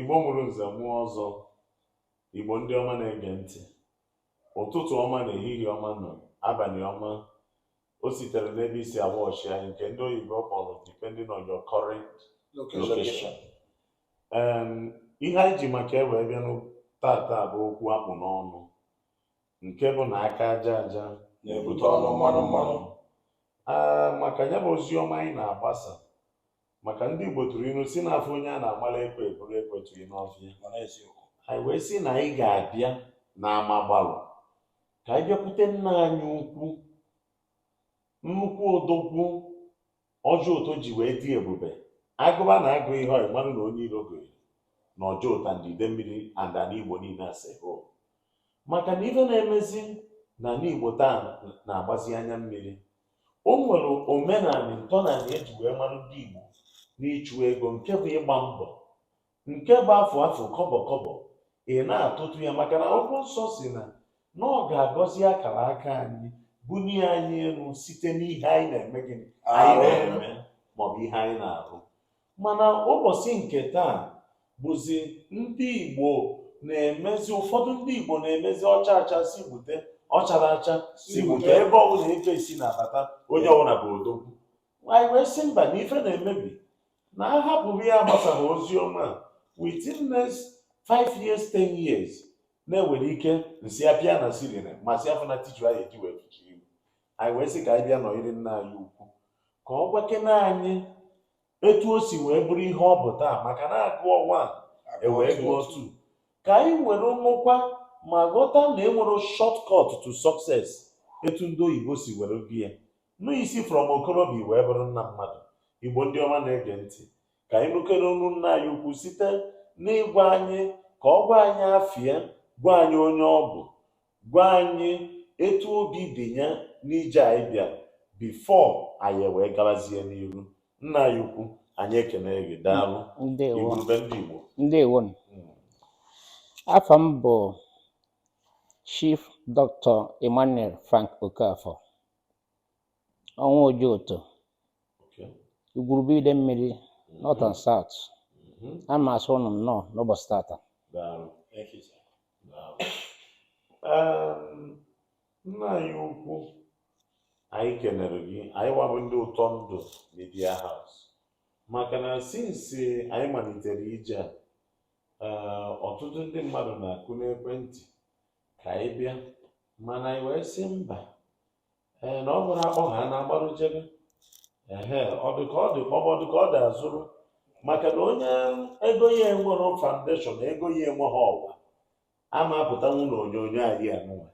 Igbo mụrụ nze mụọ ọzọ, Igbo ndị ọma na-ege ntị, ụtụtụ ọma na ehihie ọma na abalị ọma. O sitere n'ebe i si awọchị anyị nke ndị oyibo kpọrọ depending on your current location. Em, ihe anyị ji maka wee bịa n'o- tata bụ okwu a kpụ n'ọnụ nke bụ na aka aja aja na-ebute ọnụ mmanụ mmanụ. Ee, maka ya bụ ozi ọma anyị na-agbasa maka ndị Igbo tụrụ ilu sị na a fụ onye a na-agbara ekwe eburu ekwe tụrụ n'ọfịa anyị wee sị na anyị ga-abịa n'ama gbalụ ka anyị bịakwute nna anyị ukwu nnukwu odogwu Ojoto ji wee dị ebube agụba na agụhọ ya ị mara na onye iro gụrụ na Ojoto and Idemmiri and ana Igbo niile as a whole maka na ife na-emezi na ana Igbo taa na-agbazi anya mmiri O nwere omenanị ntọnanị e ji wee mara ndị Igbo n'ịchụ ego nke bụ ịgba mbọ nke bụ afụ afụ kọbọ kọbọ ị na-atụtụ ya maka na akwụkwọ nsọ sị na na ọ ga-agọzi akara aka anyị bunie anyị elu site n'ihe anyị na-eme gịnị anyị na-eme maọbụ ihe anyị na-arụ mana ụbọchị nke taa bụzi ndị Igbo na-emezi ụfọdụ ndị Igbo na-emezi ọ chaa acha sị bute ọ charọ acha sị bute ebe ọbụla ife si na-abata onye ọbụla bụ odogwu anyị wee sị mba na ife na-emebi na a hapụrụ ya gbasaghị ozi ọma a within next five years ten years na enwere ike nsị apịa na ceiling ma si afọ na tissue anyị eji wee fichi ihu anyị wee sị ka anyị bịa nọnyere nna anyị ukwu ka ọ gwakene anyị etu o si wee bụrụ ihe ọ bụ taa maka na agụọ one ewee gụọ two ka anyị were nụkwa ma ghọta na enwerọ shortcut to success etu ndị oyibo si were bie ya n'isi from okorobịa wee bụrụ nna mmadụ igbo ndị ọma na-ege ntị ka anyị nụkere onu nna anyị ukwu site n'ịgwa anyị ka ọ gwa anyị afa ya gwa anyị onye ọ bụ gwa anyị etu obi dị ya n'ije anyị bịara before anyị wee gabazie n'iru nna anyị ukwu anyị ekene gị daalụ ndewo igwurube ndị Igbo ndewo nụ. afa m bụ chief dr emmanuel frank okafor ọnwa Ojoto igwurube Idemmiri north and south ana m asị ụnụ nnọọ n'ụbọchị tata nna anyị ukwu anyị kenere gị anyị wa bụ ndị ụtọ ndụ media house maka na since anyị malitere ije a eh, ọtụtụ ndị mmadụ na-akụ n'ekwentị ka anyị bịa mana anyị wee sị mba ee na ọ bụrụ a kpọọ ha na-agbarụ jebe ehe ọ dị ka ọ dị kpọbọ ọ dị ka ọ dị azụrụ maka na onye ego ya enweghị foundation ego ya enweghị ọwa ama apụtanwu na onyonyo anyị anụnwa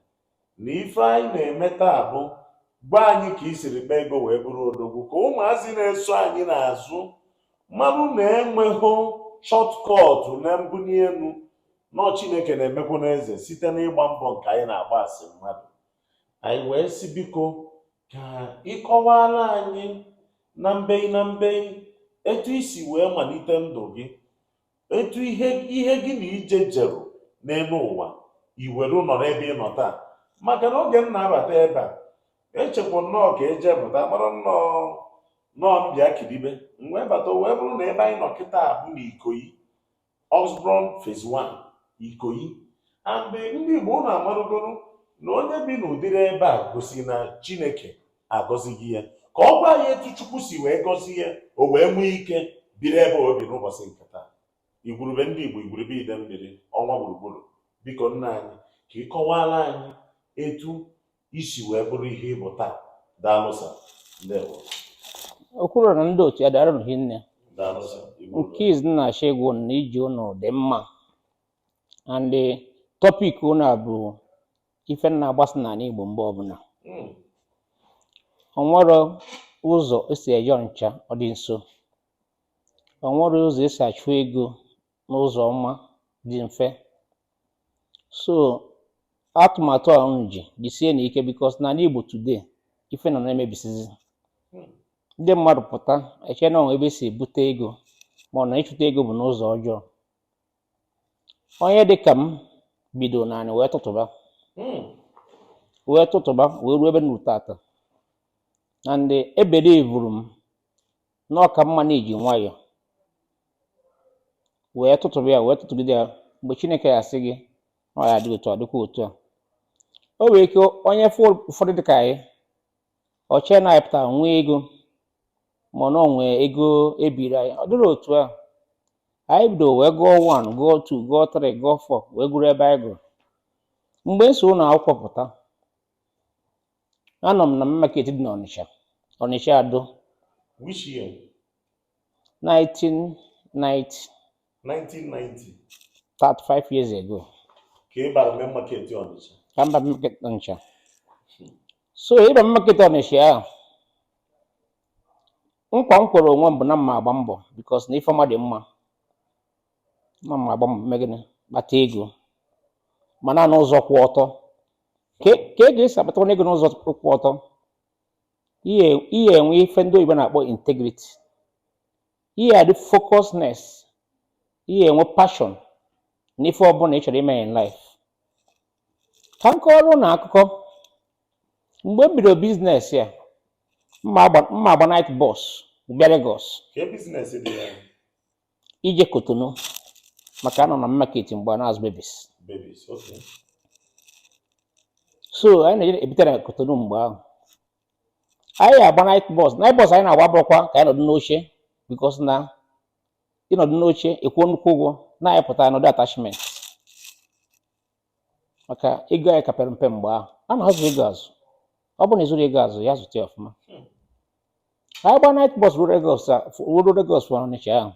na ife anyị na-eme taa bụ gwa anyị ka i siri kpaa ego wee bụrụ odogwu ka ụmụazị na-eso anyị n'azụ marụ na enweghị shortcut na mbuli elu na ọ chineke na-emekwu n'eze site n'ịgba mbọ nke anyị na-agba as mmadụ Anyị wee sị biko ka ị kọwaara anyị na mbei na mbei etu i si wee malite ndụ gị etu ihe ihe gị na ije i jeru n'elu ụwa i were nọrọ ebe ị nọ taa maka na oge m na-abata ebe a echekwa nnọọ ka eje pụta kpọrọ nnọọ nọọ mbịa kidibe m wee bata o wee bụrụ na ebe anyị nọ kịta bụ n'ikoyi Osborne Phase 1 Ikoyi and ndị Igbo unu amarụgoro na onye bi n'ụdịrị ebe a gosi na Chineke agọzigo ya ka ọ gwa anyị etu Chukwu si wee gọzie ya o wee nwee ike biri ebe o bi n'ụbọchị nke taa igwurube ndị Igbo igwurube Idemmiri ọnwa gburugburu biko nna anyị ka ị kọwaara anyị etu i si wee bụrụ ihe ị bụ taa daalụ sir ndewo Okwuruọra na ndị otu ya daarụnụ hinne daalụ sir Igbo nke izizi m na-achọ ịgwa unu na ije unu dị mma and topic unu a bụ ife na-agbasa n'ala Igbo mgbe ọbụla Mm, o nwero ụzọ e si eje Ọnịcha ọ dị nso o nwero ụzọ e si achụ ego n'ụzọ ọma dị mfe so atụmatụ a unu ji jisienụ ike because n'ana Igbo today ife nọ na-emebisizi ndị mmadụ pụta eche na o nwe ebe e si ebute ego ma ọ na ịchụta ego bụ n'ụzọ ọjọọ onye dị ka m bido n'anị wee tụtụba wee tụtụba wee ruo ebe m ruru tata and e believe-uru m na ọ ka mma na i ji nwayọọ wee tụtụrụ ya wee tụtụgide ya mgbe chineke ya-asị gị na ọ ya-adị otu a ọ dịkwa otu a o nwere ike onye fụ ụfọdụ dịka anyị o chee na anyị pụtara nwee ego ma ọ na o nwe ego e biri anyị ọ dịrọ otu a anyị bido wee gụọ 1 gụọ 2 gụọ 3 gụọ 4 wee gụruo ebe anyị gụruru mgbe m si ụlọ akwụkwọ pụta Anọ m na Main Market dị n'Ọnịcha, Ọnịcha Ado. Which year? 1990. 1990. 35 years ago. Ka ị bara Main Market Ọnịcha? Ka m bara Main Market Ọnịcha. So ịba m Main Market Ọnịcha ahụ, nkwa m kwere onwe m bụ na m ma-agba mbọ because na ife ọma dị mma. Na m ma-agba mbọ mee gịnị kpata ego mana n'ụzọ kwụ ọtọ. ka e ga-esi akpata ego n'ụzọ kwụ ọtọ ị ya-enwe ife ndị oyibo na-akpọ integrity ị ya-adị focusness ị ya-enwe passion na ife ọbụla ị chọrọ ime in life ka m kọọrọ ụnụ akụkọ mgbe m bidoro biznes ya m na-agba night bus bịa Lagos ije Kotonu maka a nọ na market mgbe a na-azụ babies so anyị na-eje ebute na Kotonu mgbe ahụ anyị agba night bus night bus anyị na-agba abụrọkwa ka anyị nọdụ n'oche because na ị nọdụ n'oche ị kwụọ nnukwu ụgwọ na anyị pụta nọdụ attachment maka ego anyị ka pere mpe mgbe ahụ a na-azụ ego azụ ọ bụrụ na ị zụrụ ego azụ ya zụta ya ọfụma anyị gba night bus ruo Lagos a- fụ- ruo Lagos from Ọnịcha ahụ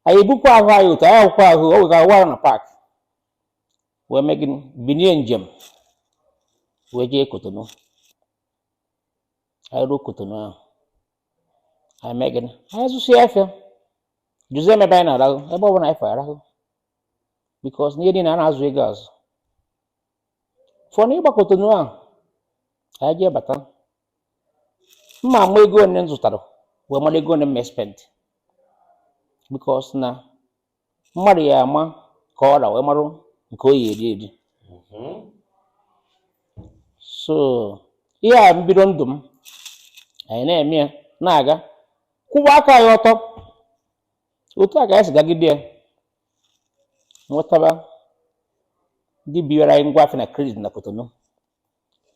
anyị ebukwa ahụ anyị otu anyị akwụkwọ ahụ o wegara wara na park wee mee gịnị binie njem wee jee Kotonu anyị ruo Kotonu ahụ anyị mee gịnị anyị zụsịa afịa jụzie m ebe anyị na-arahụ ebe ọ bụla anyị fụ arahụ because na ihe niile a na-azụ ego azụ from ịgba Kotonu ahụ anyị jee bata m ama ego one m zụtara wee mara ego one m spend because na mmadụ ya-ama ka ọ ra wee marụ nke ọ ya-eri eri so ihe a mbido ndụ m anyị na-eme ya na-aga kwụwa aka anyị ọtọ otu a ka anyị si gagide ya nwetaba ndị biwara anyị ngwa afịa na credit na Kotonu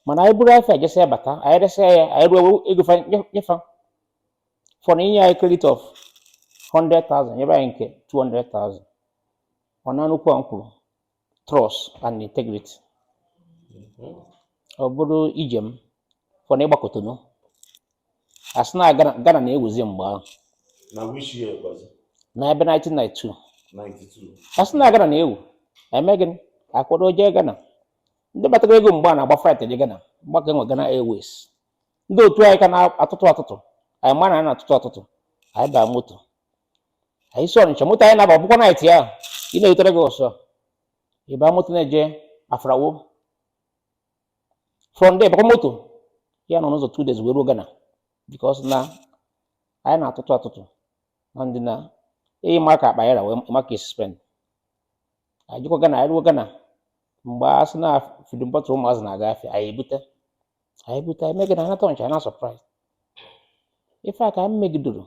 mana anyị buru afịa jesịa bata anyị resịa ya anyị ruo ego fa nye- nye fa from inye anyị credit of 100,000 nyebe anyị nke 200,000 ọ nọ n'okwu a m kwuru trust and integrity ọ bụrụ ije m from ịgba Kotonu a sị na Ghana Ghana na-ewuzi mgbe ahụ na which year was it? na ebe 1992 92. a sị na Ghana na-ewu e mee gịnị a kwado jee Ghana ndị batara ego mgbe a na-agba flight eje Ghana mgbe a ka enwe Ghana Airways ndị otu anyị ka na-atụtụ atụtụ anyị ma na anyị na-atụtụ atụtụ anyị baa moto anyị si Ọnịcha moto anyị na-aba bụkwa night ya ị na-erute Lagos ị ba moto na-eje Aflao from there bakwa moto ya-anọ n'ụzọ two days wee ruo Ghana because na anyị na-atụtụ atụtụ na ndị na eyi ma ka akpa ya ra wee ma ka e si spend anyị jekwa Ghana anyị ruo Ghana mgbe a sị na feeding bottle ụmụazị na-aga afịa anyị ebute anyị ebute anyị megide anata Ọnịcha na supply ife a ka anyị megidoro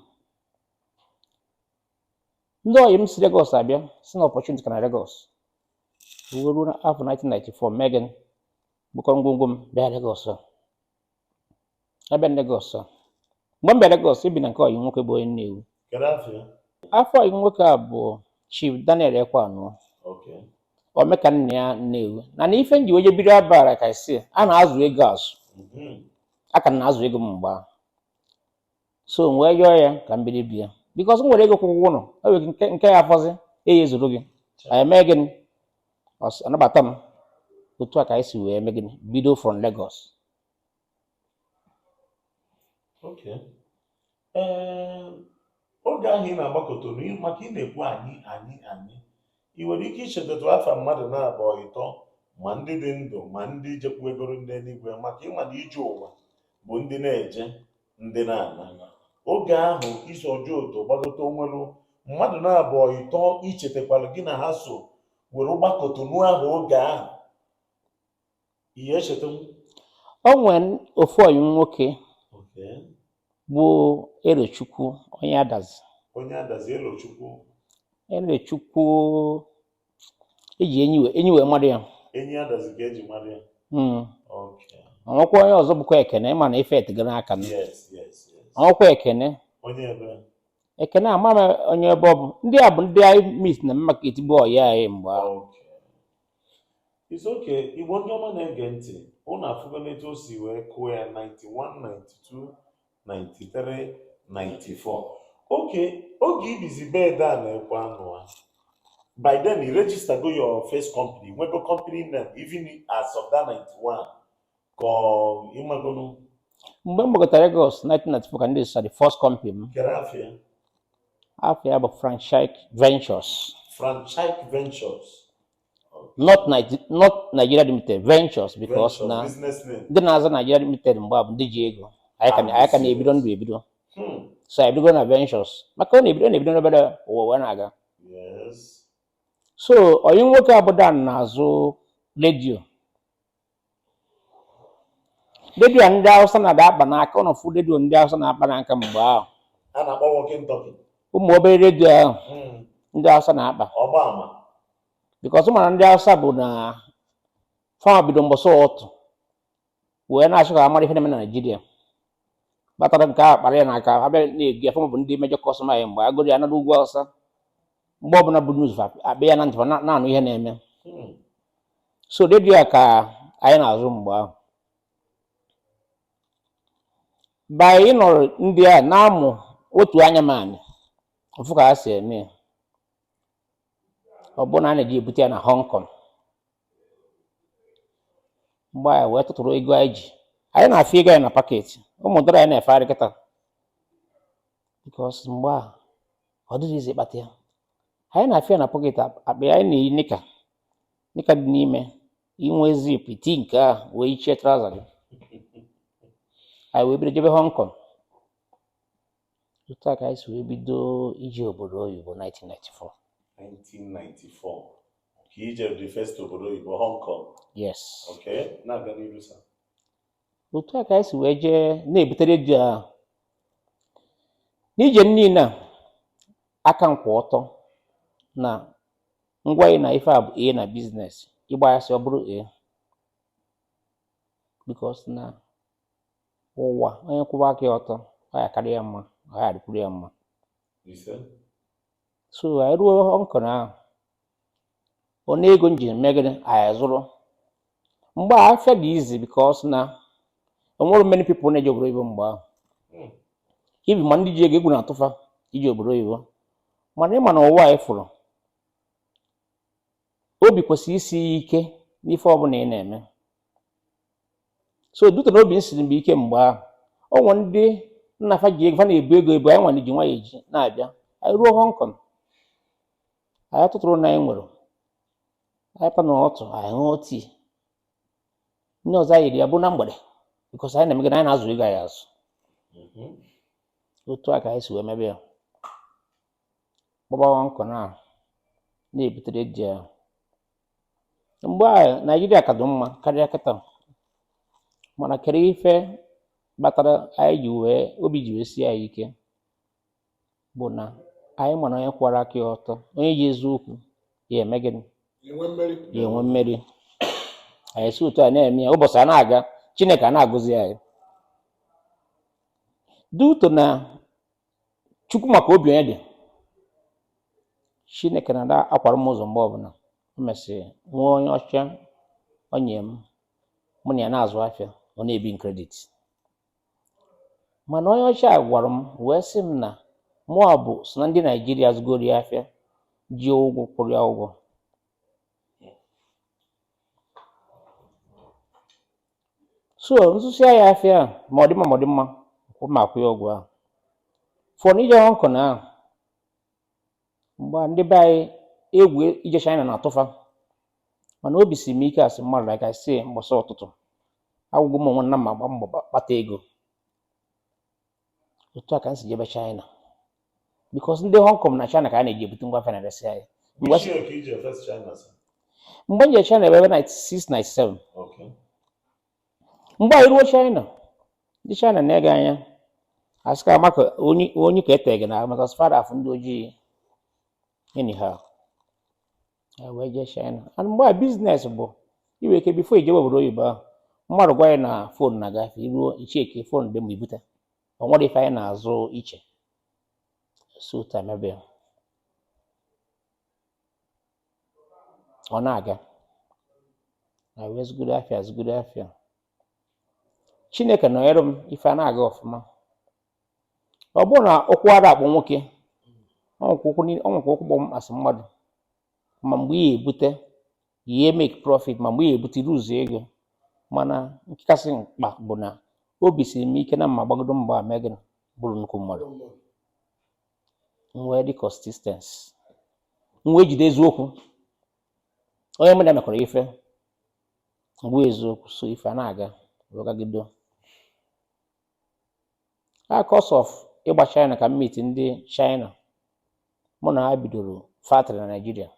ndị ọyị m si Lagos abịa sị na opportunity ka na Lagos wee ruo n'afọ 1994 mee gịnị bukọọ ngwongwo m bịa Lagos a abịa m Lagos a mgbe m bịa Lagos ebi na nke ọyị nwoke bụ onye Nnewi Kedu afa ya? afa ọyị nwoke a bụ Chief Daniel Ekweanụa Okay. Omekannaya Nnewi na na ife m ji wee je biri abara ka isi a na-azụ ego azụ Mhm. a ka na-azụ ego m mgbe ahụ so m wee yọọ ya ka m biri be ya because m were ego kwụọ ụgwọ ụlọ o nwere nke nke ya afọzi eji ezuru gị anyị emee gịnị Ọ sị, anabata m otu a ka anyị si wee mee gịnị bido from Lagos Okay. Ee, oge ahụ ị na-agba Kotonu ị- maka ị na-ekwu anyị anyị anyị ị nwere ike ichetatụ afa mmadụ na-abụọ ịtọ ma ndị dị ndụ ma ndị jekwuegoro ndị eluigwe maka ịma na ije ụwa bụ ndị na-eje ndị na-ana oge ahụ i si Ojoto gbagote o nwelu mmadụ na-abụọ ịtọ ichetakwala gị na ha so were gbaa Kotonu ahụ oge ahụ ihe echeta m o nwere ofu ọyị nwoke Okay. bụ Erochukwu onye Adazi onye Adazi Elochukwu Erochukwu eji enyi wee enyi wee malụ ya Enyi Adazi ka eji malụ ya hmm. o nwekwa onye ọzọ bụkwa Ekene ịma na ife etego aka o nwekwa Ekene onye ebe Ekene ama m onye ebe ọ bụ ndị a bụ ndị anyị meet na market bụ ọyị anyị mgbe ahụ It's okay. Igbo ndị ọma na-ege ntị, ụnụ afụgo n'etu o si wee kụọ ya 91, 92 93 94 okay oge i bizi be Dan Ekweanụa by then i registergo your first company nwego company name even as of that 91 ka ịmagonu mgbe m gbagotara Lagos 1994 ka m register the first company m kedu afa ya afa ya bụ franchise ventures franchise ventures not Nige- not Nigeria limited ventures because Venture, na business name. ndị na-aza Nigeria limited mgbe a bụ ndị ji ego anyị ka na- anyị ka na-ebido ndụ ebido Hmm. so anyị bido na ventures maka ọ na-ebido ọ na-ebido n'obere ụwa wee na-aga Yes. so ọyị nwoke a bụ Dan na-azụ redio redio ndị Awụsa na-adị akpa n'aka ụnụ fụ redio ndị Awụsa na-akpa n'aka mgbe ahụ a na-akpọ walkie-talkie ụmụ obere redio ahụ ndị Awụsa na-akpa ọgba ama because ị ma na ndị Awụsa bụ na fa ma bido mbọsọ ụtụtụ wee na-achọ ka a mara ihe na-eme na Nigeria batara nke a kpara ya na aka abịa na-ego ya fa nwa bụ ndị major customer ya mgbe egoro ya nara ugwu Awụsa mgbe ọbụla bụ news akpịa ya na ntị na-anụ ihe na-eme so redio a ka anyị na-azụ mgbe ahụ by ịnọrọ ndị a na-amụ otu anya m anyị mfụ ka ha si eme ya ọ bụrụ na a na-eje ebute ya na Hong Kong mgbe anyị wee tụtụrụ ego anyị ji anyị na-afị ego anyị na pocket ụmụ dollar anyị na-efegharị kịta because mgbe a ọ dịghị easy ịkpata ya anyị na-afị ya na pocket akpa anyị na-eyi nika nika dị n'ime enwee zip i tie nke a wee yichie trouser gị anyị wee bido jebe Hong Kong otu a ka anyị si wee bido ije obodo oyibo 1994 1994 ka ije the first obodo oyibo Hong Kong yes okay na-aga n'iru sir otu a ka anyị si wee jee na-ebute redio a n'ije m niile a aka m kwụ ọtọ na ngwa ị na ife a bụ a na business ịgba asị ọ bụrọ a because na ụwa onye kwụba aka ya ọtọ ọ ya-akara ya mma ọ ya-adịkwuru ya mma so anyị ruo Hong Kong ahụ one ego m ji eme gịnị anyị azụrụ mgbe a afịa dị easy because na enwerọ many people na-eje obodo oyibo mgbe ahụ even ma ndị ji ego egwu na-atụ fa ije obodo oyibo mana ịma na ụwa anyị fụrụ obi kwesịrị isi ike n'ife ọbụla ị na-eme so due to na obi m siri m ike mgbe ahụ o nwere ndị nna fa ji ego fa na-ebu ego ebu anyị nwa na-eji nwa ya eji na-abịa anyị ruo Hong Kong anyị atụtụrụ na anyị nwere anyị pụa na ụtụtụ anyị ṅụọ tea nni ọzọ anyị eri ya bụ na mgbede because anyị na-eme gịnị anyị na-azụ ego anyị azụ otu a ka anyị si wee mebe ya gbaba Hong Kong a na-ebute redio a mgbe a Naịjirịa ka dị mma karịa kịta mana kedụ ife kpatara anyị ji wee obi ji wee sie anyị ike bụ na anyị ma na onye kwara aka ya ọtọ onye ji eziokwu ya-eme gịnị ya-enwe mmeri anyị si otu a na-eme ya ụbọchị a na-aga chineke a na-agọzi anyị due to na chukwu maka obi onye dị chineke na-ada akwara m ụzọ mgbe ọbụla o mesịrị nwee onye ọcha onye mụ na ya na-azụ afịa ọ na-ebi m credit mana onye ọcha agwara m wee sị m na mụ bụ sọ na ndị naijiria zụgoro ya afịa ji ụgwọ kwụrụ ya ụgwọ so m zụsịa ya afịa ahụ ma ọ dị mma ma ọ dị mma kwụ ma akwụ ya ụgwọ ahụ fọ n'ije Hong Kong ahụ mgbe a ndị be anyị egwu ije China na-atụ fa mana obi si m ike as mmadụ like I say mgbasa ụtụtụ agwago m onwe na m agba mbọ gba- kpata ego otu a ka m si jebe China because ndị Hong Kong na China ka a na-eje ebute ngwa afịa na-eresị anyị Ngwa sir which year ka i je first China sir. mgbe m jere China bụ ebe 96 97 Okay. mgbe anyị ruo China ndị China na-ene gị anya asị ka maka onye onye ka eteghị na maka fa ada afụ ndị ojii anyhow e wee jee China and mgbe a biznes bụ iwe ike bifo i jebe obodo oyibo ahụ mmadụ gwa anyị na fon na-aga afịa i ruo i chekie fon dị mma i bute o nwere ife anyị na-azụ iche so tamebe ọ na-aga na wee zụgide afịa zụgide afịa chineke nọnyere m ife a na-aga ọfụma ọ bụrọ na ụkwụ ada akpọ nwoke ọ nwekwa ụkwụ niile- ọ nwekwa ụkwụ kpọ m as mmadụ ma mgbe ị ya-ebute ihe make profit ma mgbe ị ya-ebute i lose ego mana nke kasị mkpa bụ na obi siri m ike na m ma-agbagido mbọ mee gịnị bụrụ nnukwu mmadụ m wee dị consistency m wee jide eziokwu onye mụ na ya mekọrọ ife m gwa ya eziokwu so ife a na-aga wee gagido a course of ịgba China ka m meet ndị China mụ na ha bidoro factory na Naịjirịa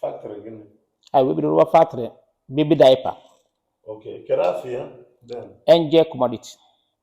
Factory gịnị? anyị wee bido rụwa factory baby diaper Okay, kedu afa ya? Then, Angel commodity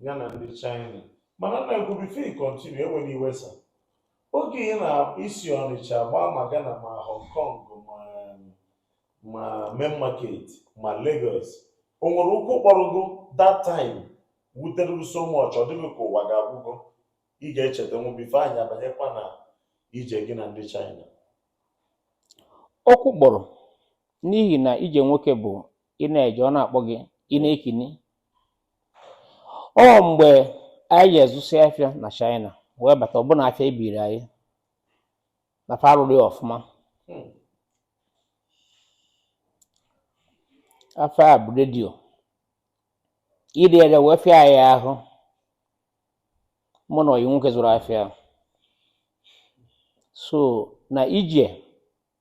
gị na ndị China mana nna ukwu bifo i kọntinu ewela iwe sa oge ị na-esi Ọnịcha gbaa ma Ghana ma Hong Kong ma ma main market ma Lagos o nwere ụkwụ kpọrọ gị that time wutere gị so much ọ dị gị ka ụwa gị agwụgo ị ga-echeta nwu bifo anyị abanyekwa na ije gị na ndị China ụkwụ kpọrọ n'ihi na ije nwoke bụ ị na-eje ọ na-akpọ gị ị na-ekini o nwe mgbe anyị jee zụsịa afịa na China wee bata ọ bụ na afịa ebiri anyị na fa arụrọ ya ọfụma afịa a bụ redio ire ere wee fịa anyị ahụ mụ na ọyị nwoke zụrụ afịa ahụ. so na ije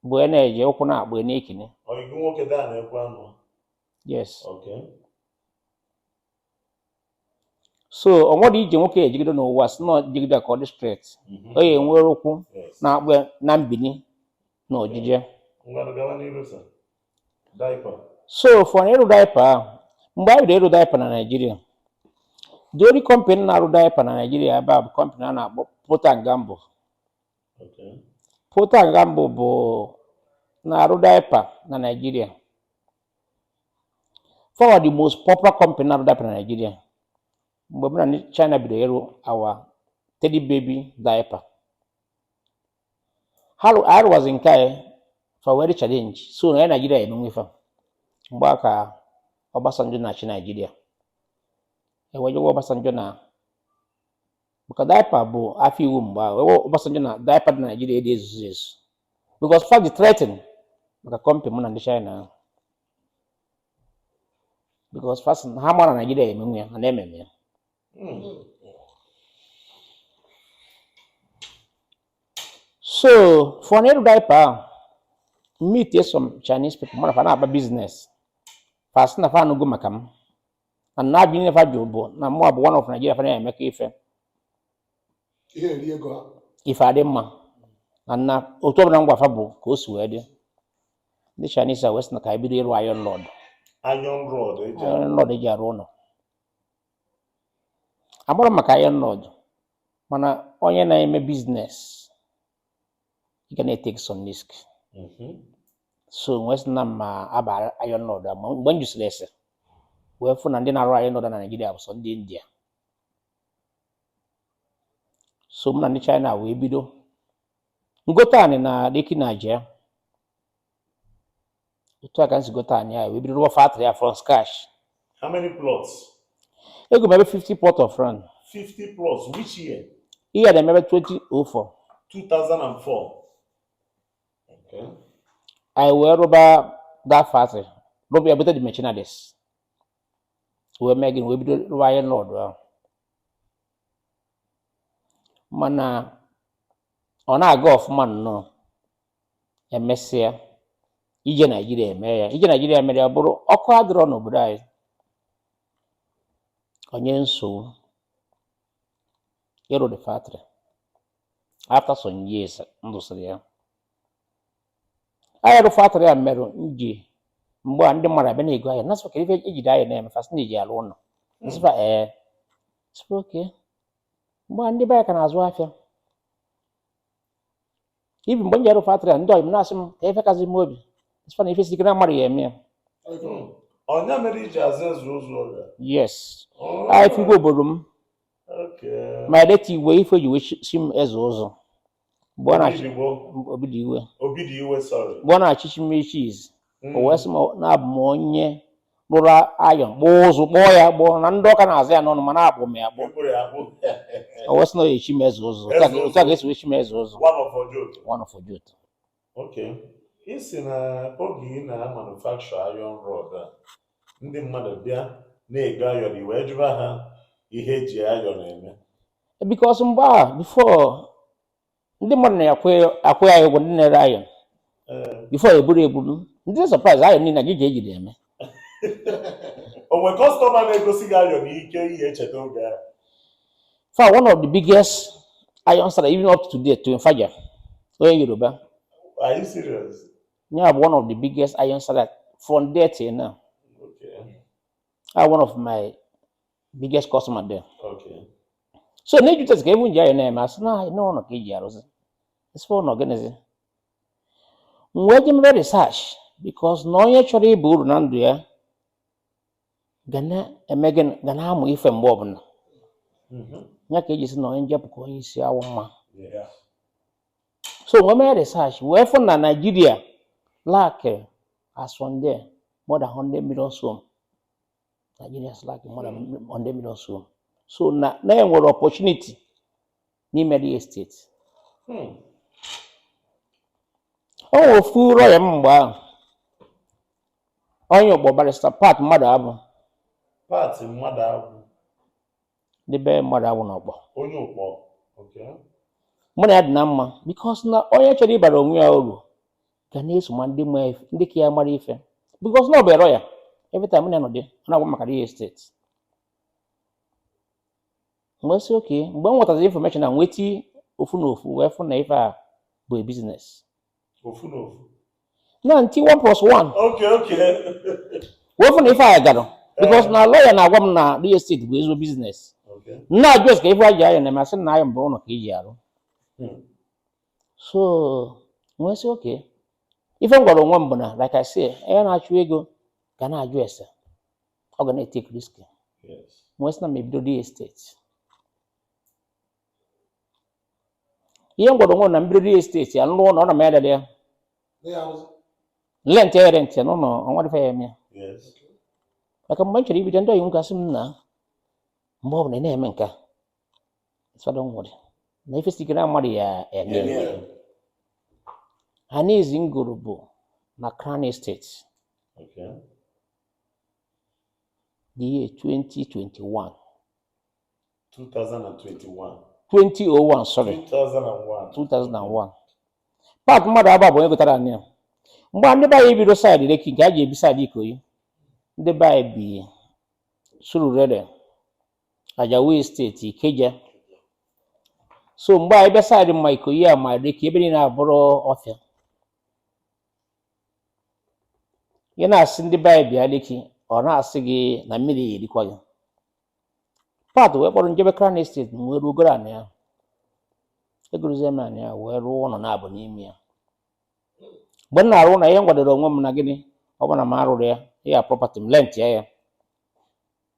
bụ ị na-eje ụkwụ na-akpọ ị na-ekini Ọyị nwoke daa na-ekwe anụ. yes okay so o nwere ije nwoke ya ejigide n'ụwa sị na jigide ka ọ dị straight mhm. ọ ya enwere ụkwụ na-akpọ na mbini na ojije so for na ịrụ daipa ahụ mgbe anyị bidoro ịrụ daipa na naijiria the only company na-arụ daipa na naijiria ebe a bụ company a na-akpọ Procter and Gamble Procter and Gamble bụ na-arụ daipa na Naịjirịa. Fa bụ the most popular company na-arụ daipa na Naịjirịa mgbe mụ na ndị China bidoro ịrụ our Teddy baby diaper. Ha rụ- anyị rụwazị nke anyị fa wee dị challenge so na ya Naịjirịa emenwe fa mgbe ahụ ka Obasanjo na-achị Naịjirịa e wee je gwa Obasanjo na maka daipa bụ afịa iwu mgbe ahụ gwa Obasanjo na daipa dị na Naịjirịa dị ezuzu ezu because fa dị threaten maka company mụ na ndị China ahụ because fa sị na ha mara Naịjirịa emenwu ya ha na-ememe ya so for na ịrụ daipa ahụ meet some Chinese people mụ na fa na-agba business fa sị na fa anụgo maka m and na ajụ niine fa jụ bụ na mụ abụ one of Nigeria fa na-emekọ ife ife adị mma and na otu ọbụla m gwa fa bụ ka o si wee dị ndị Chinese a wee sị na ka anyị bido ịrụ iron rod iron rod eji arụ ụlọ amarọ m maka iron rod mana onye na-eme business ị ga na-etake some risk mhm. so m wee sị na ma aba iron rod ma mgbe m jụsịrị ese wee fụ na ndị na-arụ iron rod na Naịjirịa bụ sọ ndị India so mụ na ndị China wee bido m gota anị na Lekki na Ajah otu a ka m si gote anị anyị wee bido rụọ factory a from scratch How many plots? ego m ebe 50 plot of land 50 plots. Which year? ihe dị maybe 2004 2004. Okay. anyị wee rụba that factory rụba ya bute the machineries wee mee gịnị wee bido rụwa iron rod ahụ mana ọ na-aga ọfụma nnọọ emesịa ije naijiria eme ya ije naijiria mere ya bụrụ ọkụ adịrọ n'obodo anyị o nye nsogbu ịrụ the factory after some years m rụsịrị ya anyị rụ factory a merụ nji mgbe a ndị mmadụ abịa na-ego iron a sị kedụ ife eji the iron a eme fa sị na-eji alụ ụlọ m sị fa ee sị fa okay mgbe a ndị be anyị ka na-azụ afịa even mgbe m ji arụ factory a ndị ọyị m na-asị m kee ife kasi m obi sị fa na ife si ike na mmadụ ya eme ya Ọ ya mere i ji aza Eze Ụzụ oge? yes Oh, afa Igwe obodo m okay. my late Igwe ife e ji wee chi- si m Eze Ụzụ mgbe ọ na-achị Obidigbo, Obidiwe Obidiwe, sorry. mgbe ọ na-echichi m chief o wee sị m na abụ m onye rụrụ iron kpụọ ụzụ kpụọ ya akpụọ na ndị Ọka na-aza ya n'ọnụ mana akpụ m ya akpụọ M kpụrụ ya akpụ o wee sị na ọ ya-echi m Eze Ụzụ Eze Ụzụ. otu a ka e si wee chi m Eze Ụzụ one of Ojoto. one of Ojoto Okay. Ị sị na oge ị na-amanufacture iron rod a, ndị mmadụ bịa na-ego iron i wee jụba ha ihe e ji iron eme. because mgbe a before ndị mmadụ na-akwụ ya ụgwọ ndị na-ere iron before eburu eburu m dị surprise iron niile gịnị ka ejide eme o nwere customer na-egosi gị iron ike i ya-echeta oge a fa one of the biggest iron seller even up to date to Nfaja onye Yoruba are you serious? ya bụ one of the biggest iron seller from then till now okay. one of my biggest customer then so na ajụtazi kee ife e ji iron a eme a sị na iron n'ụlọ ka e ji arụzi m sị fa ụlọ gịnịzi m wee je mebe research because na onye chọrọ ịba uru na ndụ ya ga na-eme gịnị ga na-amụ ife mgbe ọbụla mm-hmm. ya ka e ji sị na onye njepụ ka onye isi awọ ama so m wee mee research wee fụ na Nigeria lack as of then more than 100 million home Nigerians lack more than mm. hundred million so so na na e nwere opportunity n'ime real estate hmm. o nwere ofu lawyer mgbe ahụ onye Ụkpọ barrister Pat Mmadụabụ Pat Mmadụabụ ndị be Mmadụabụ na Ụkpọ onye Ụkpọ mụ na ya dị na mma because na onye chọrọ ịbara onwe ya uru ga na-eso ma ndị ndị ka ya mara ife because na ọ bụ lawyer every time m na ya nọdị ọ na-agwa m maka real estate m wee sị okay mgbe m nwetaziri information na m wee ti ofu na ofu wee fụ na ife a bụ a business ofu na ofu na nti 1 plus 1 okay okay wee fụ na ife a gara because na lawyer na-agwa m na real estate bụ ezigbo business m na-ajụzi kee ife e ji iron a eme a sị na iron bụ ụlọ ka e ji arụ so m wee sị okay ife m gwara onwe m bụ na like I say onye na-achụ ego ga na-ajụ ese ọ ga na-etake risk m wee sị na m ebido real estate ihe m gwara onwe m na m bido real estate ya m lụọ ụnọ na m ya dada ya lent ya rent ya n'ụlọ o nwedị ife ya eme ya maka mgbe m chọrọ ibido ndị ọyị m ga-asị m na mgbe ọ bụla ị na-eme nke a fada nwere na ife si ike na mmadụ ya eme anị izizi m goro bụ na Crown Estate Okay. the year 2021 2021. 2001 sorry 2001. 2001 Pat mmadụ abụọ bụ onye gotara anị a mgbe ndị be anyị bido side Lekki nke a ji ebi side Ikoyi ndị be anyị bi Surulere Ajao Estate Ikeja so mgbe a ebe side ma Ikoyi a ma Lekki ebe niile abụrụ ọfịa ị na-asị ndị be anyị bịa Lekki ọ na-asị gị na mmiri ya erikwa gị Pat wee kpọrọ m jebe Crown Estate m wee ruo goro anị ahụ egorozie m anị ahụ wee rụọ ụlọ naabọ n'ime ya mgbe m na-arụ ụlọ ihe m gwadoro onwe m na gịnị ọ bụrụ na m arụrụ ya ya property m rent ya ya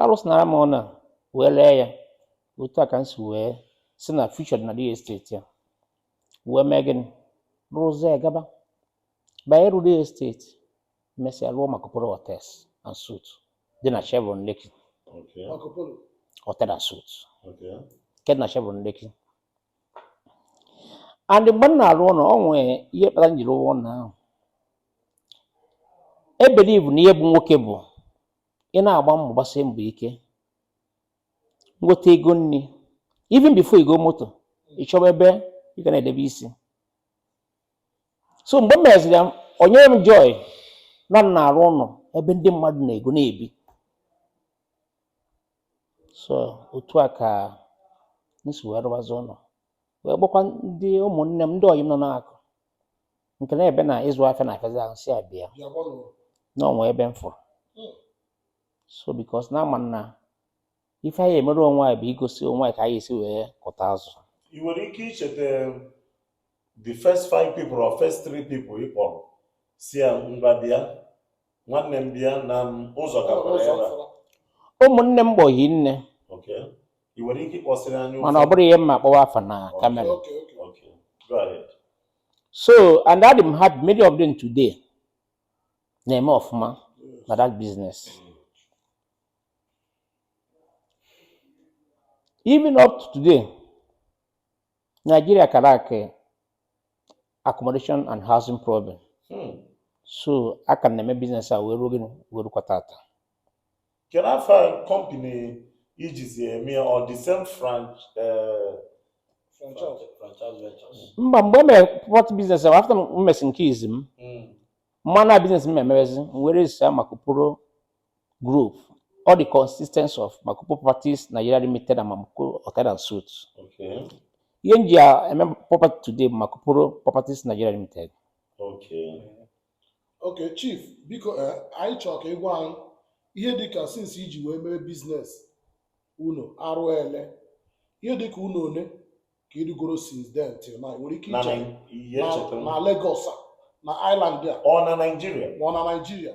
arụsịnara m ụnọ a wee ree ya otu a ka m si wee see na future dị na real estate ya wee mee gịnị rụzie ya gaba banye ru real estate mesịa rụọ Marcopolo hotels and suites dị na Chevron Lekki Okay. hotel and suites Okay. nke dị na Chevron Lekki and mgbe m na-arụ ụnọ ọ nwee ihe kpatara m jiri rụọ ụnọ ahụ ebelieve na ihe bụ nwoke bụ ị na-agba mbọ gbasie mbọ ike nweta ego nri even before igo moto ị chọba ebe ị ga na-edebe isi so mgbe m meziri ya o nyere m joy na m na-arụ ụnọ ebe ndị mmadụ na-ego na-ebi so otu a ka m si wee rụbazi ụnọ wee gwakwa ndị ụmụnne m ndị ọyị m nọ na-akụ nke na ebe na ịzụ afịa na afịazi ahụ sị ha bịa na o nwee ebe m fụrụ hmm. so because na ama m na ife anyị emere onwe anyị bụ igosi onwe anyị ka anyị esi wee kụta azụ ị nwere ike icheta um, the first five people or first three people ị kpọrọ sị ya ngwa bịa nwanne m bịa na ụzọ gakwara ya ụmụnne m gbọghị nne mana ọ bụrọ ihe m ma akpọwa afa na camera so and adị m happy many of them today na-eme ọfụma na that business even up to today Nigeria ka lack eh, accommodation and housing problem Hmm. so aka m na-eme business a wee ruo gịnị wee rukwa tata Kedu afa kọmpini i jizi eme ya ọ the same franch eh, Franchise. Franchise ventures. mba mgbe m mere property biznes ahụ afta m mesi nke izi m Mm. m ma na biznes m emebezi m wee register Marcopolo group ọ dị consistence of Marcopolo properties nigeria limited and Marcopolo hotel and suites Okay. ihe m ji a- eme property today bụ Marcopolo properties nigeria limited Okay. Okay chief biko eh, anyị chọọ ka ị gwa anyị ihe dịka sinsi i ji wee mere biznes ụnọ arụ ele ihe dịka ụnọ one ka ị rụgoro since then till now nwere ike na iche Nai- ihe na- echetara m. na Lagos a, na Island a ọ na Naịjirịa ma ọ na Naịjirịa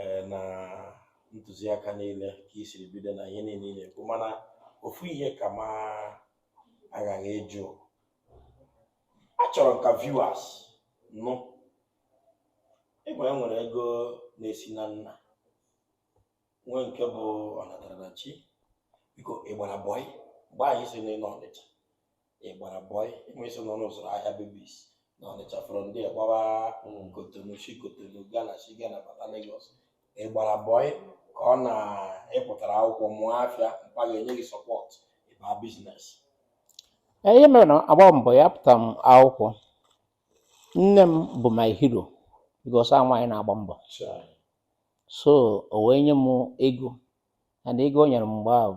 eh, na ntụziaka niile ka i siri bido na ihe niile ị na-ekwu mana ofu ihe ka m aghaghị ịjụ achọrọ m ka viewers nụ ịgwa e nwere ego na-esi na nna nwee nke bụ ọnatarachi biko ị gbara bọị mgbe ahụ ị sị na ị nọ Ọnịcha ị gbara bọị ịma iso n'ọnụ ụzọ ahịa babies na Ọnịcha from there gbawa Cotonou si Cotonou Ghana si Ghana bata Lagos ị gbara bọị ka ọ na ị pụtara akwụkwọ mụọ afịa mpa gị enye gị sọpọt ị baa biznes Ee, ihe mere na agba m bọị apụta m akwụkwọ nne m bụ my hero because a nwaanyị na-agba mbọ so o wee nye m ego and ego o nyere m mgbe ahụ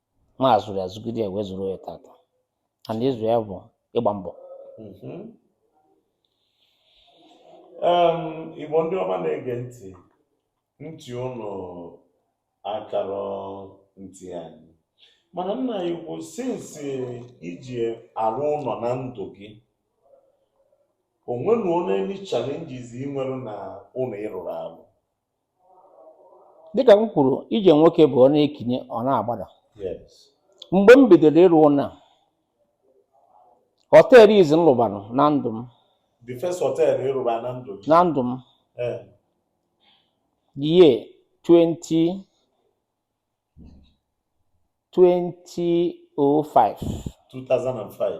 m azụrụ ya zụgide ya wee zụruo ya tata and ịzụ ya bụ ịgba mbọ Mhm. Em, Igbo ndị ọma na-ege ntị ntị ụnụ akara ntị anyị mana nna anyị ukwu sinsi i ji arụ ụlọ na ndụ gị o nwenụ any challenges ị nwere na ụlọ ị rụrụ arụ dịka m kwuru ije nwoke bụ ọ na-ekinye ọ na-agbada mgbe m bidoro ịrụ ụlọ a họteelụ izi m lụbara na ndụ m the first hotel ị rụba na ndụ gị na ndụ m Eh, the year 20 2005 2005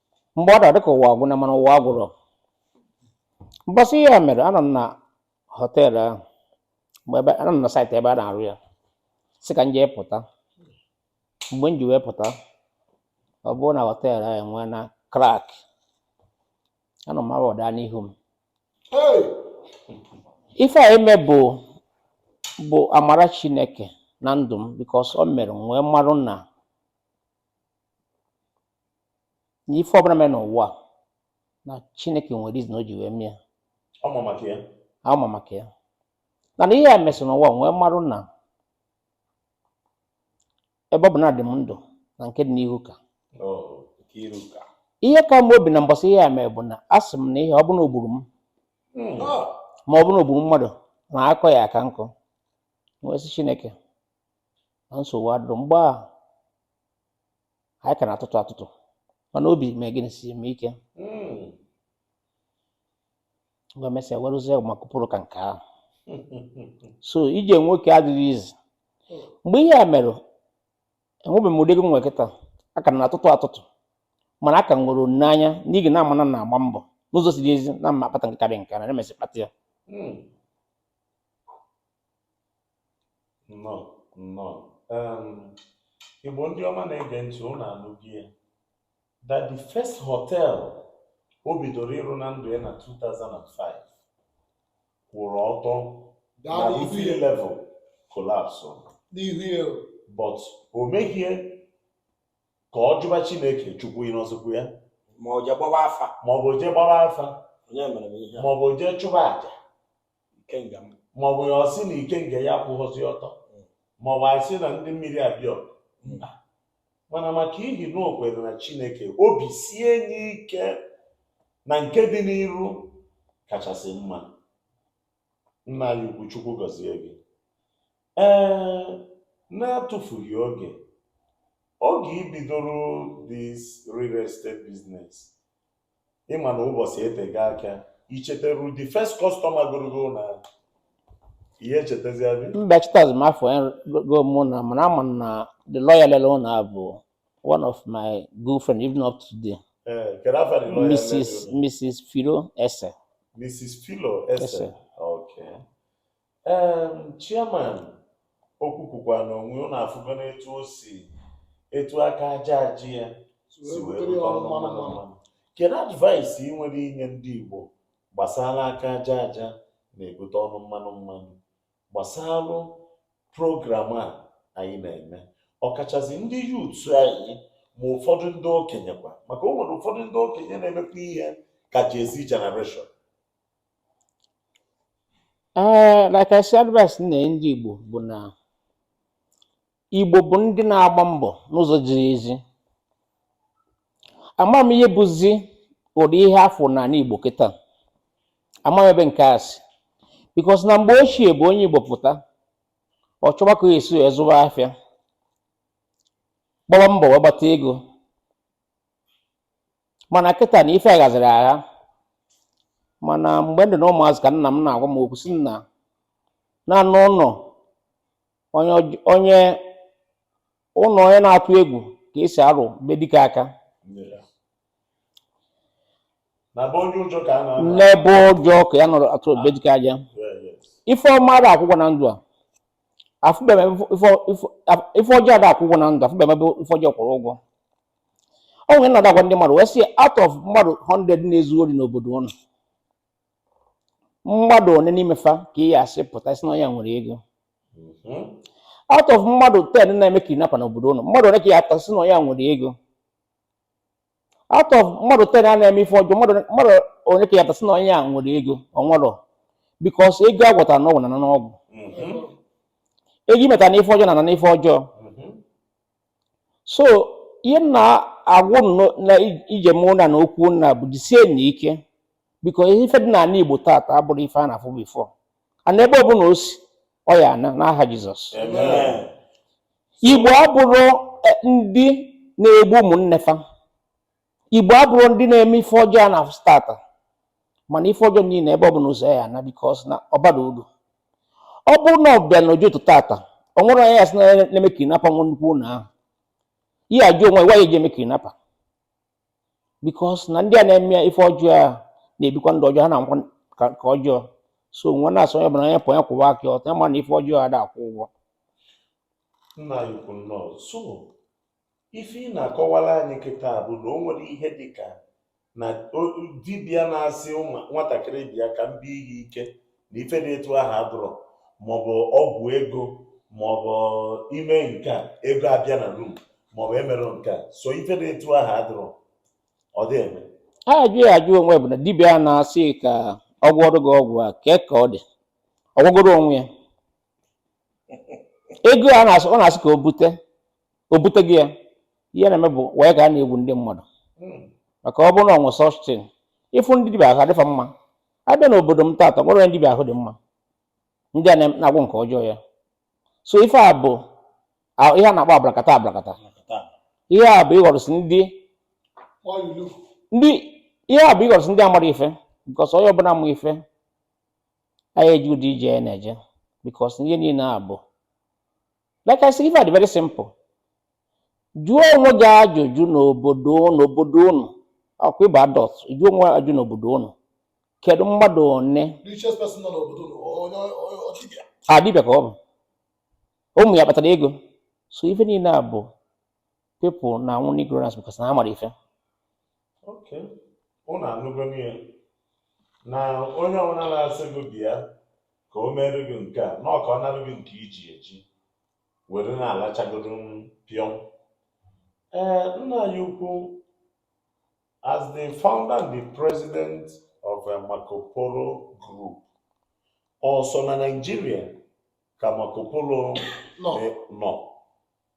mgbe ọ dara ọ dịka ụwa agwụna mana ụwa agwụrọ mbọsị ihe a mere anọ m na họteelụ ahụ mgbe ebe anọ m na saịtị ebe a na-arụ ya sị ka m jee pụta mgbe m ji wee pụta ọ bụrụ na họteelụ ahụ enwee na krak anọ m awa ọ daa n'ihu m ife a eme bụ bụ amara Chineke na ndụ m bikos o mere m wee marụ na na ife ọbụla mere n'ụwa na chineke nwere reason o ji wee mee ya ọ ma maka ya ọ ma maka ya na na ihe a mesị n'ụwa nwee mmarụ na ebe ọ bụ na adị m ndụ na nke dị n'ihu ka ihe ka m obi na mbọsị ihe a mere bụ na asị m na ihe ọ bụ na o gburu m ma ọ bụ na o gburu mmadụ na akọ ya aka nkụ wee sị chineke na nsogbu adịrọ mgbe a anyị ka na-atụtụ atụtụ mana obi mee gịnị sie m ike mgbe mesịa werụzie ma kụpụrụ ka nke ahụ so ije nwoke adịghị easy mgbe ihe a mere enwebeghị m ụdị ego m nwere kịta aka m na-atụtụ atụtụ mana aka m nwere olileanya n'ihi na ama m na m na-agba mbọ n'ụzọ ziri ezi na m ma akpata nke karịa nke a na emesị kpata ya nnọọ nnọọ um, igbo ndị ọma na-ege ntị ụnụ anụgo ya that the first hotel o bidoro ịrụ na ndụ ya na 2005 kwụrụ ọtọ na roofing level collapse but o meghị ya ka ọ jụba chineke chukwu ị nọzikwa ya maọbụ jee gbawa afa maọbụ jee gbara afa onye mere m ihe a maọbụ jee chụba aja maọbụ ya sị na ikenga ya akwụhọzi ọtọ maọbụ ya sị na ndị mmiri abịa mba mana maka ihi na o kwere na chineke obi sie ya ike na nke dị n'iru kachasị mma nna anyị ukwu chukwu gọzie gị ee na-atụfughị oge oge i bidoro this real estate business ị ma na ụbọchị etega aka i cheteru the first customer goro gị ụlọ ahụ ihe echetezi abi mba echetazi m afa onye go mụ ụnọ mana ama m na the lawyer lele ụlọ a bụ one of my good friend even up to today ee kedu afa the lawyer lele ụlọ? mrs philo ese mrs philo ese Ese. okay chairman okwu kwukwa na onwe ụnụ afụgo n'etu o si etu aka aja aja ya si wee bute ọnụ mmanụ mmanụ kedu advice ị nwere inye ndị Igbo gbasara aka aja aja na-ebute ọnụ mmanụ mmanụ gbasara program a anyị na-eme ọkachasị ndị youth anyị ma ụfọdụ ndị okenye kwa maka o nwere ụfọdụ ndị okenye na-emekwa ihe ka Gen Z generation ee like I say advice m na-enye ndị Igbo bụ na Igbo bụ ndị na-agba mbọ n'ụzọ ziri ezi ama m ihe bụzi ụdị ihe a fụ n'ana Igbo kịta ama m ebe nke a si because na mgbe ochie bụ onye Igbo pụta ọ chọba ka ya esi wee zụba afịa gbaba mbọ wee gbata ego mana kịta na ife aghaziri agha mana mgbe m dị na ụmụazị ka nna m na-agwa m okwu sị na na-anọ ụnọ onye ụj- onye ụnọ onye na-atụ egwu ka e si arụ be dike aka n'ebe ụjọ ka ya nọrọ atụ be dike aja Yeah, yes. ife ọma ada akwụ ụgwọ na ndụ a afụbe m ife ọjọọ ada akwụ ụgwọ na ndụ afụbe m ebe ife ọjọọ kwụrụ ụgwọ o nwere na-agwa ndị mmadụ wee sị out of mmadụ 100 na-ezu ori n'obodo unu mmadụ one n'ime fa ka ị ya asị pụta sị na onye a nwere ego mhm. out of mmadụ 10 na-eme kidnapper n'obodo unu mmadụ one ka ị ya apụta sị na onye a nwere ego out of mmadụ ten a na-eme ife ọjọọ mmadụ one ka ya apụta sị na onye a nwere ego o nwerọ because ego a gwọtara n'ọgwụ na na n'ọgwụ ego e meta na ife ọjọọ na na n'ife ọjọọ so ihe m na-agwa unu na ije mụ na na okwu nna bụ jisienụ ike because ife dị n'ana Igbo taata abụrọ ife a na-afụ before ana ebe ọbụla o si ọ ya ana n'aha Jizọs Igbo abụrọ e, ndị na-egbu ụmụnne fa Igbo abụrọ ndị na-eme ife ọjọọ a na-afụ taata mana ife ọjọọ niile ebe ọbụla ụzọ ya ana because na ọ barọ uru ọ bụrụ na ị bịa na Ojoto taata o nwere onye ya sị na-eme kidnapper nwee nnukwu ụlọ ahụ ihe ajụ onwe ya gwa ya eji eme kidnapper because na ndị a na-eme ife ọjọọ a na-ebikwa ndụ ọjọọ ha na-anwụkwa ka ka ọjọọ so mụwa na-asị onye ọbụla onye pụ onye kwụwa aka ya ọtọ ya ma na ife ọjọọ ada akwụ ụgwọ nna anyị ukwu nnọọ so ife ị na-akọwara anyị kịta bụ na o nwere ihe dị ka na o- dibịa na-asị um nwatakịrị bịa ka m bie ihe ike na ife dị etu ahụ adụrọ maọbụ ọgwụ ego maọbụ ime nke a ego abịa na room maọbụ emere nke a so ife dị etu ahụ adụrọ ọ dị eme ajụjụ ya ajụ onwe bụ na dibịa a na-asị ka ọ gwọrọ gị ọgwụ a kee ka ọ dị ọ gwọgoro onwe ya ego a na-asị ọ na-asị ka o bute o buteghị ya ihe na-eme bụ wee ka a na-egbu ndị mmadụ maka ọ bụrụ na ọnwụ sọstin ịfụ ndị dibịa ahụ adịfa mma abịa n'obodo m taata nwere ndị dibịa ahụ dị mma ndị a na-agwọ nke ọjọọ ya so ife a bụ ihe a na-akpọ abrakatabra ka ihe a bụ ịghọrọsị ndị ndị ihe a bụ ịghọrọsị ndị amarọ ife because onye ọbụla ma ife anaghị eji ụdị ije ya na-eje because ihe niile a bụ Like I said, ife a dị very simple. Jụọ onwe gị ajụjụ n'obodo unu obodo unu ọ kwa ị bụ adult jụọ ajụjụ n'obodo unu kedu mmadụ one ọ dibịa ka ọ bụ ụmụ ya kpatara ego so ife niile a bụ people na-anwụ n'ignorance because na ha amarọ ife Okay. Unu anụgo n'ihe na onye ọbụla na-asị gị bịa ka o meere gị nke a na ọ ka ọ narụ gị nke i ji eji were na-alachagodo pịọm ee nna anyị ukwu as the founder and the president of eh, Marco Polo Group ọ sọ na Nigeria ka Marco Polo nọ eh, nọ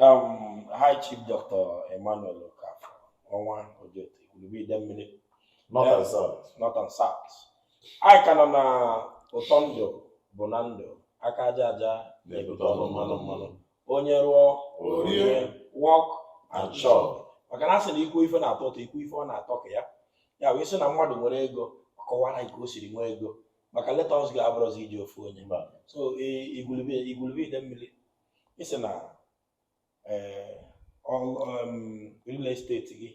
Um, High Chief Dr. Emmanuel Okafor ọnwa Ojoto Igwulube Idemili North and South anyị ka nọ na ụtọ ndụ bụ na ndụ aka aja aja na-ebute ọnụ mmanụ mmanụ onye rụọ o rie work and chop maka na a sị na ikwu ife na-atọ ụtọ ikwu ife ọ na-atọ ka ya ya wee sị na mmadụ nwere ego ọ kọwara ka o siri nwee ego maka leta ọzọ ga-abụrụzi iji ofu onye so Igwulube Igwulube Idemili ị sị na eh, um, real estate gị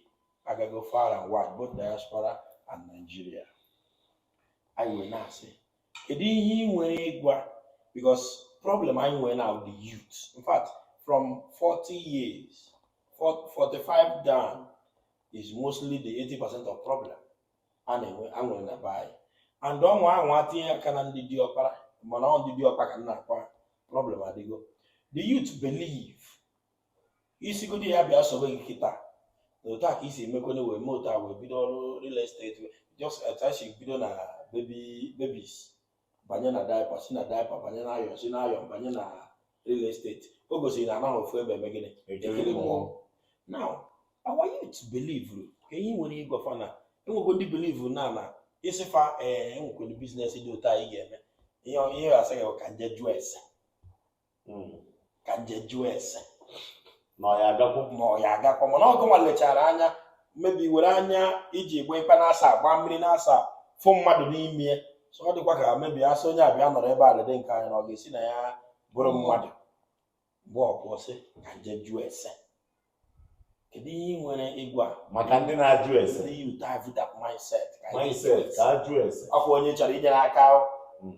agago far and wide both diaspora and Nigeria anyị wee na-asị kedu ihe ị nwere ịgwa because problem anyị nwere now the youth in fact from 40 years 45 down is mostly the 80% of problem a na-enwe na be anyị and ọnwa ahụ atinye aka na ndị diọkpara mana ọ ndị diọkpa ka na-akwa problem adịgo the youth believe ị sịgodi ya bịa sobe gị kịta na otu a ka i si emekwana wee mee otu a wee bido ọrụ real estate just atachi bido na baby babies banye na diaper si na diaper banye na iron si na iron banye na real estate o gosiri na anaghị ofu ebe eme gịnị ekiri mmụọ now our youth believe kee ihe i nwere ịgwa fa na enwego ndị believe na na ị sị fa ee enwekwere business dị otu a ị ga-eme ya asị gị ka m je jụọ ese hmm. ka nje jụọ ese na ọ ya agakwa ma ọ ya agakwa mana ọgụ nwa lechara anya maybe were anya iji gba ikpe na-asa agba mmiri na-asa fụ mmadụ n'ime so ọ dịkwa ka maybe asị onye abịa nọrọ ebe a lede nke anya na ọ ga-esi na ya bụrụ mmadụ mgbe ọkwụ sị ka nje jụọ ese kedu ihe ị nwere ịgwa maka ndị na-ajụ ese ndị youth have that mindset mindset ka ajụ ese ọkwa onye chọrọ inyere aka hmm.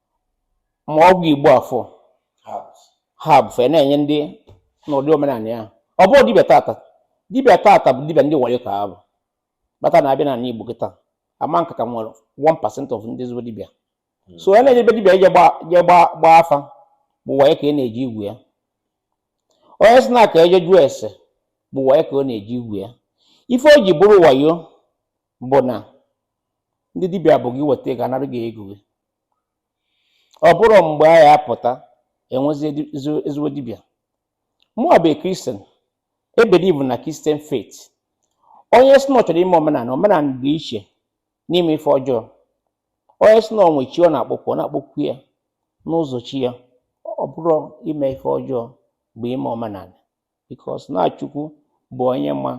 ma ọgwụ igbo afụ herbs fa na-enye ndị n'ụdị omenala ya ọ bụrọ dibịa taata dibịa taata bụ dibịa ndị wayo ka ha bụ bata na abịa n'ala igbo kịta ama nka ka nwere 1% of ndị ezigbo dibịa hmm. so onye na-eje be dibịa ije gbaa afa bụ wayo ka a na-eje igwu ya onye sị na ka e je jụọ ese bụ wayo ka ọ na-eje igwu ya ife o ji bụrụ wayo bụ na ndị dibịa bụ gị weta ego anara gị ego gị ọ bụrọ mgbe a ya apụta enwezi ezigbo dibịa mụa bụ Christian ebelieve na Christian faith onye sị na ọ chọrọ ime omenala omenala dị iche n'ime ife ọjọọ onye sị na o nwe chi ọ na-akpọkwu ọ na-akpọkwu ya n'ụzọ chi ya ọ bụrọ ime ife ọjọọ bụ ime omenala because na Chukwu bụ onye ma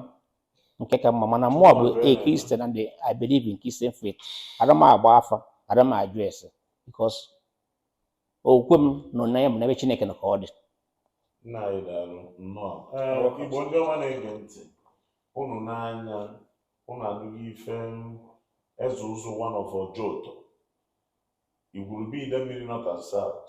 nke ka mma mana mụa bụ a Christian and I believe in Christian faith ara m agba afa ara m ajụ ese because okwukwe m nọ na ya m n'ebe Chineke nọ ka ọ dị nna anyị daalụ nnọọ ee igbo ndị ọma na-ege ntị unu n'anya unu anụgo ife Eze Ụzụ one of Ojoto Igwurube Idemili North and South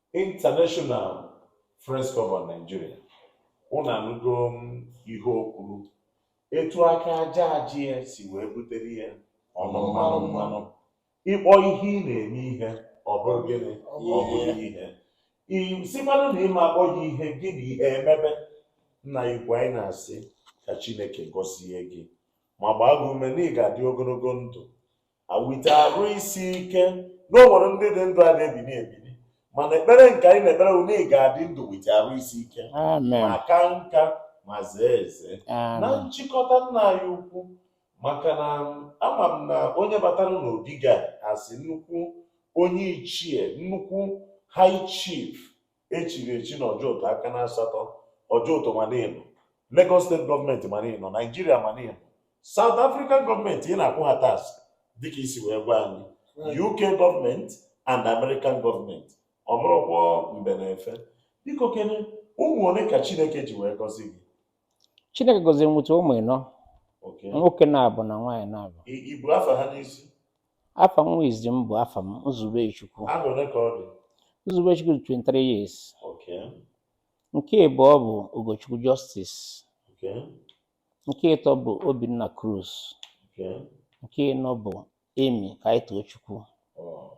International Friends Club of Nigeria unu anụgo ihe o kwuru etu aka aja aja ya si wee butere ya ọnụ mmanụ mmanụ ị kpọ ihe ị na-eme ihe ọ bụrụ gịnị ọ bụrụ ihe ị sịkwanụ na ị ma akpọ ya ihe gị na ihe emebe nna igwe anyị na-asị ka chineke gọzie gị ma gbaa gị ume na ị ga-adị ogologo ndụ nwete arụ isi ike na o nwere ndị dị ndụ adị ebili ebili mana ekpere nke anyị na-ekpere bụ na ị ga-adị ndụ nwete arụ isi ike amen ma ka nka ma zee eze na amen nchịkọta nna anyị ukwu maka na ama m na onye batara n'obi ga-asị nnukwu onye ichie nnukwu high chief e chiri echi na Ojoto aka na asatọ Ojoto ma na ị nọ Lagos State government ma na ị nọ Nigeria ma na ị nọ South African government ị na-akwụ ha tax dịka i si wee gwa anyị UK government and American government ọ bụrụkwa mbe na efe biko kene ụmụ ole ka Chineke ji wee gọzie gị Chineke gọziri m nweta ụmụ ịnọ nwoke naabọ na nwaanyị naabọ i bu afa ha n'isi Afa nwa izizi m bụ Afam Nzubechukwu. Afọ ole ka ọ dị? Nzubechukwu dị 23 years. Okay. Nke ịbụọ bụ Ugochukwu Justice. Okay. Nke ịtọ bụ Obinna Cruz. Okay. Nke ịnọ bụ Emi Kaitochukwu. Oh.